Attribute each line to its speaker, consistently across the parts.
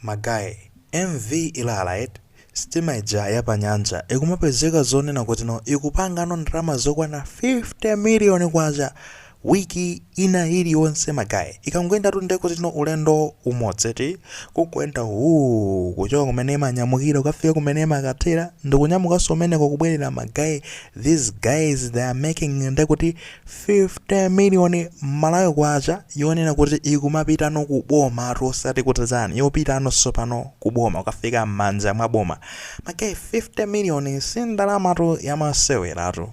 Speaker 1: Ma guy, MV Ilala eti? Sitima ija ya pa nyanja ikumapezeka zonena kutino ikupangano ndalama zokwana 50 miliyoni kwacha week ina iliyonse ma guy. Ikangoyendatu nde kutino ulendo umodzi eti? Kukuyenda wuu! Kuchoka kumene imanyamukira kukafika kumene imakathera ndikunyamukanso kumeneko kubwerera ma guy, these guys they are making nde kuti 50 million malawi kwacha yonena kuti ikumapitano ku bomatu osati kuti chani yopitano tsopano ku boma kukafika mmanja mwa boma ma guy 50 million si ndalamatu yamaseweratu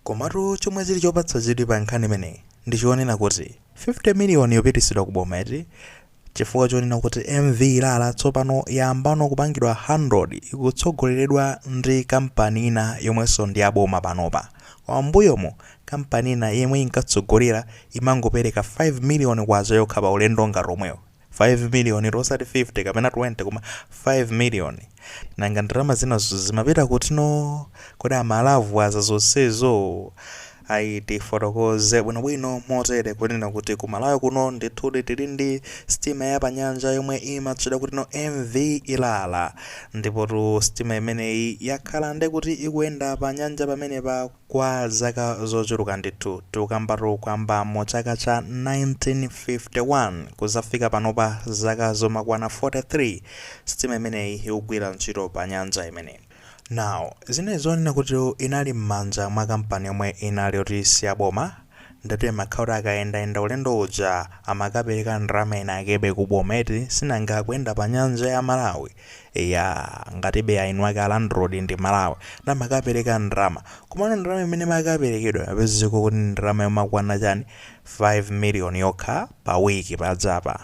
Speaker 1: komatu chomwe chili chopatsa chidwi pa nkhani imeneyi ndi chonena kuti 50 million yopitisidwa ku boma eti Chifukwa chonena kuti MV Ilala tsopano yayambano kupangidwa handled ikutsogoleredwa ndi kampani ina yomwenso ndi ya boma panopa. M'mbuyomo, kampani ina yomwe inkatsogolera imangopereka 5 miliyoni kwacha yokha pa ulendo ngati omwewo. 5 miliyonitu osati 50 kapena 20 koma 5 miliyoni. Nanga ndalama zinazo zimapita kutino? Kodi amalavwaza zonsezo? Ayi, tifotokoze bwinobwino motere kunena kuti ku Malawi kuno ndithudi tili ndi sitima ya panyanja yomwe imatchedwa kutino MV Ilala. Ndipotu sitima imeneyi yakhala nde kuti ikuyenda pa nyanja pamenepa kwa zaka zochuluka ndithu. Tikukambatu kuyamba mu chaka cha 1951 kudzafika panopa zaka zomakwana 43 sitima imeneyi ikugwira ntchito pa nyanja imeneyi. Now, zinali zonena kuti inali mmanja mwa kampani yomwe inali yoti siyaboma, ndatu imakhala kuti akayendayenda ulendo uja amakapereka ndalama inakebe ku boma eti, sinanga akuyenda pa nyanja ya Malawi, eyaa, ngatibe eni ake a landlord ndi Malawi, nde amakapereka ndalama, komano ndalama imene imakaperekedwa imapezeka kuti ndi ndalama yomakwana chani, 5 million yokha pa week pajapa,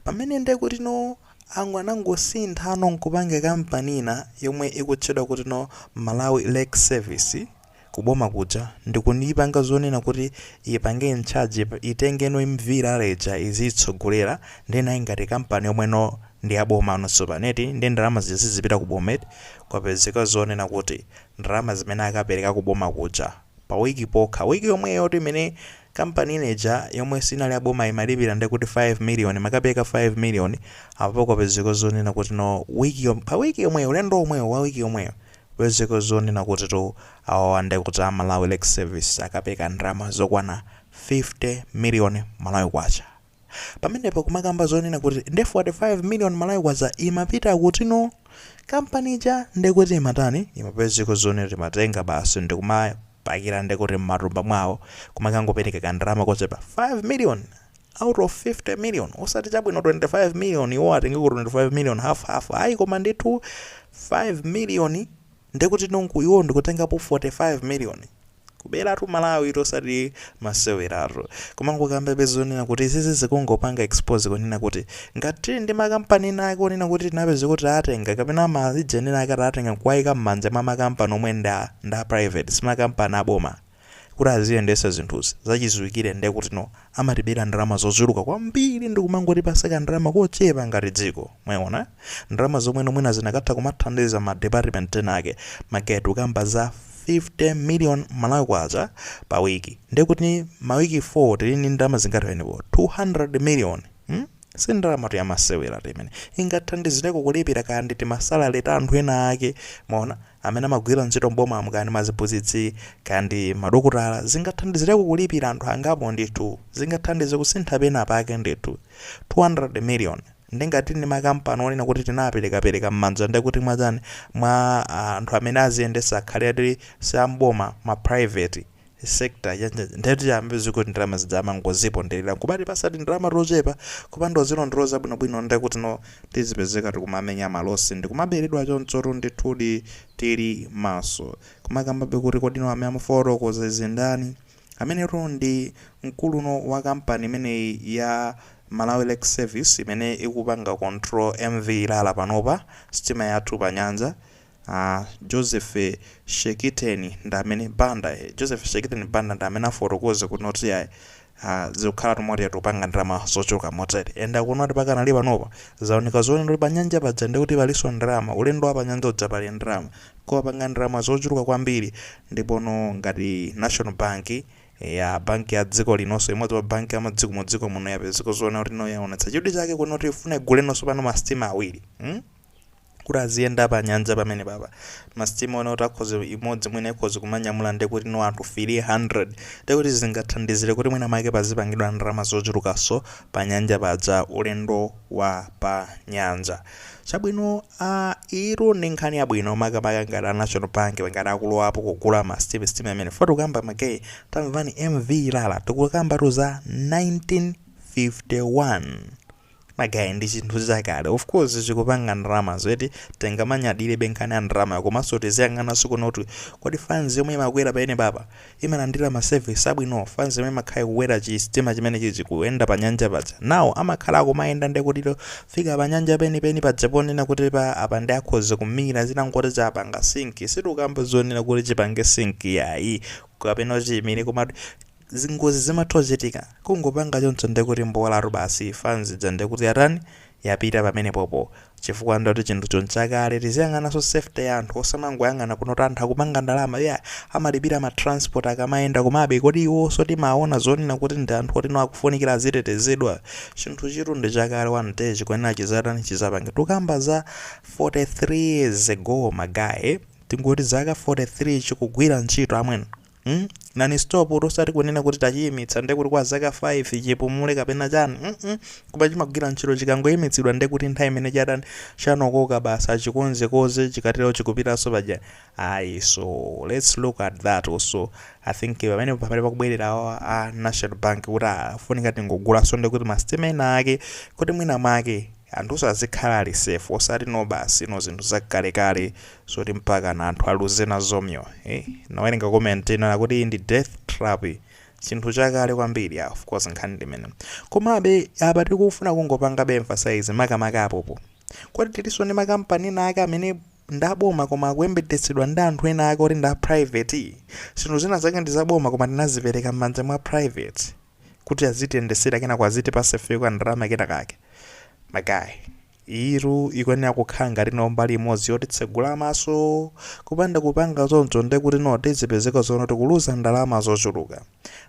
Speaker 1: pamene ndekutino, Angu anangosinthano nkupanga company ina yomwe ikutchedwa kutino Malawi Lake Service ku boma kuja ndikuipanga zonena kuti ipange incharge itengeno MV Ilala ija iziitsogolera nde nayo ngati company yomweno ndi ya bomano tsopano eti nde ndalama zija sizipita ku boma eti kwapezeka zonena kuti ndalama zimene akapereka ku boma kuja pa week pokha week yomweyotu imene Kampani ina ija yomwe sinali ya boma imalipira nde kuti 5 million, imakapereka 5 million, apo kwapezeka zonena kutino, week yo, pa week yomweyo, ulendo womwewo wa week yomweyo, kupezeka zonena kutitu awawa nde kuti a Malawi Lake Service akapereka ndalama zokwana 50 million Malawi Kwacha. pamenepa kumakamba zonena kuti ndi 45 million malawi kwacha imapita kuti no kampani ija ndekuti imatani imapezeka zonena kuti imatenga basi ndikumapakira ndekuti mmatumba mwawo kumakangopereka kandalama kochepa 5 million out of 50 million osati chabwino 25 million iwo atengeko 25 million half half ayi koma ndithu 5 million ndekuti no iwo ndikutengapo 45 million Kubelatu Malawi tu osati maseweratu. Koma ngokambabe zonena kuti izizi zikungopanga expose kunena kuti ngati tili ndi ma company ena ake onena kuti tinapezeka kuti taatenga kapena ma region ena ake taatenga nkuwaika mmanja mwa ma company omwe ndi a private si ma company a boma kuti aziyendesa zinthuzi zachiziwikire ndekutino amatibera ndalama zochuluka kwambiri ndikumangotipasa kandalama kochepa ngati dziko. Mwayiona? Ndalama zomweno mwina zinakatha kumathandiza ma department ena ake. Ma guy tikukamba za 50 million Malawi Kwacha pa week. Ndekuti ma week 4 tili ndi ndalama zingati pamenepo? 200 million. Hmm? Si ndalamatu ya maseweratu imeneyi. Ingathandizireko kulipira kaya ndi timasalare ta anthu ena ake, mwaona, amene amagwira ntchito m'bomamu, kaya ndi maziphunzitsi, kaya ndi madokotala. Zingathandizireko kulipira anthu angapo ndithu. Zingathandize kusintha pena pake ndithu. 200 million. Nde ngati tili ndi makampani onena kuti tinawaperekapereka m'manja nde kuti mwachani, mwa anthu amene aziyendetsa akhale ati si a m'boma, ma private. sector ndiye tiyambe zi kuti ndalama zija amangozipondelera nkumatipasa tindalama tochepa kupanda kuzilondoloza bwinobwino ndiye kuti no tizipezeka tikumamenya malosi ndikumaberedwa chonchotu ndithudi tili maso kumakambabe kuti kodi no amene amafotokoza izi ndani ameneyu ndi mkulu no wa kampani imeneyi ya malawi lake service imene ikupanga control mv ilala panopa sitima yathu pa nyanja A Joseph Shekiteni ndi amene Banda, Joseph Shekiteni Banda ndi amene afotokoza kuti no iyayi ah zikukhalatu motere tikupanga ndalama zochuluka motere and akunena kuti pakanali panopa zaoneka zonena kuti panyanja paja ndiye kuti palinso ndalama, ulendo wa panyanja uja pali ndalama koma apanga ndalama zochuluka kwambiri ndipono ngati National Bank eya banki ya dziko linonso imodzi mwa banki ya madziko m'dziko muno yapezeka zoona kuti no yaonetsa chidwi chake kuti no ifuna igule no tsopano masitima awiri. kuti aziyenda pa nyanja pamenepapa masitima onena kuti akhoze imodzi mwina ikhoze kumanyamula ndi kuti no anthu 300 ndi kuti zingathandizire kuti mwina mwake pazipangidwa ndalama zochulukanso pa nyanja paja ulendo wa pa nyanja chabwino iyo ndi nkhani yabwino makamaka ngati a national bank ngati akulowapo kugula masitima sitima imene fo tikukamba ma guy tamvani mv ilala tikukambatu za 1951 my guy ndi chinthu chakale of course chikupanga ndalama zoti tingamanyadire be nkhani ya ndalama komanso tiziyang'ananso kuno kuti kodi fans yomwe imakwera pamene papa imalandira ma service abwino fans yomwe imakhala kukwera chisitima chimenechichi kuyenda pa nyanja paja nawo amakhala akumayenda ndekuti kufika pa nyanja penipeni paja ponena kuti apapa nde akhoza kumira zitangoti chapanga sink sitikukamba zonena kuti chipange sink yayi kapena chimire koma Zingozi zimatha kuchitika, kungopanga choncho ndiye kuti mbolatu basi, fans ija ndiye kuti yatani, yapita pamenepopo, chifukwa ndiye kuti chinthucho nchakale, tiziyang'ananso safety ya anthu, osamangoyang'ana kuno kuti anthu akupanga ndalama, yeah, amalipira ma transport akamayenda, komabe kodi iwonso timaona zonena kuti ndi anthu oti no akufunikira azitetezedwa? Chinthuchitu ndi chakale one day chikuyenera chidzatani, chidzapange, tikukamba za 43 years ago my guy, tingoti zaka 43 chikugwira ntchito amwene. mm non-stop tu osati kunena kuti tachiyimitsa nde kuti kwa zaka 5 chipumule kapena chani mm koma chimagwira ntchito chikangoyimitsidwa nde kuti nthawi imene chatani chanokoka basi achikonzekonze chikatero chikupitanso paja ayi so let's look at that also i think pamene pamene pakubwerera awa a national bank kuti pafunika tingogulanso nde kuti masitima ena ake kuti mwina mwake Anthuso azikhala ali safe osati no basi no zinthu zakalekale zoti mpakana anthu aluze nazo moyo eeh ndinawerenga comment ina akuti iyi ndi death trap chinthu chakale kwambiri yeah of course nkhani ndi imeneyo komabe apa tikufuna kungopangabe emphasize makamaka apopo kuti tilinso ndi ma company ena ake amene ndi aboma koma akuyendetsedwa ndi anthu ena ake oti ndi a private zinthu zina zake ndi zaboma koma tinazipereka m'manja mwa private kuti azitiyendesera kenako azitipasa ifeyo ka ndalama kena kake my guy iyitu ikuyenera kukhala ngati no mbali imodzi yotitsegula maso kupanda kupanga zonchozo nde kuti no tizipezeka zoti no tikuluza ndalama zochuluka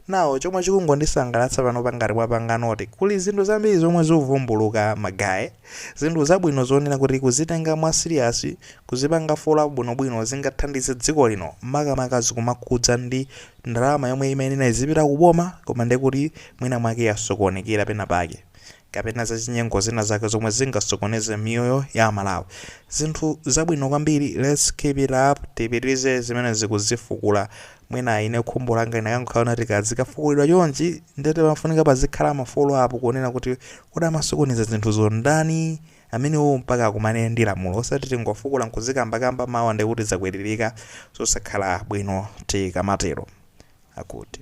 Speaker 1: nawo chomwe chikungondisangalatsa pano panga ngati mwapanga note kuli zinthu zambiri zomwe zikuvumbuluka my guy zinthu zabwino zonena kuti kuzitenga mwa serious kuzipanga follow up bwinobwino zingathandize dziko lino makamaka zikumakhudza ndi Ndalama yomwe imayenera izipita ku boma koma ndiye kuti mwina mwake yasokonekera pena pake kapena zachinyengo zina zake zomwe zingasokoneze miyoyo ya Amalawi. Zinthu zabwino kwambiri, let's keep it up, tipitirize zimenezi kuzifukula. Mwina ine khumbo langa linakangokhala linati kaya zikafukulidwa chonchi ndiye pamafunika pazikhala ma follow up kuona kuti kodi amasokoneza zinthuzo ndani? amenewo mpaka akumane ndi lamulo osati tingofukula nkuzikambakamba mawa ndekuti zakwiririka zosakhala bwino tikamatero akuti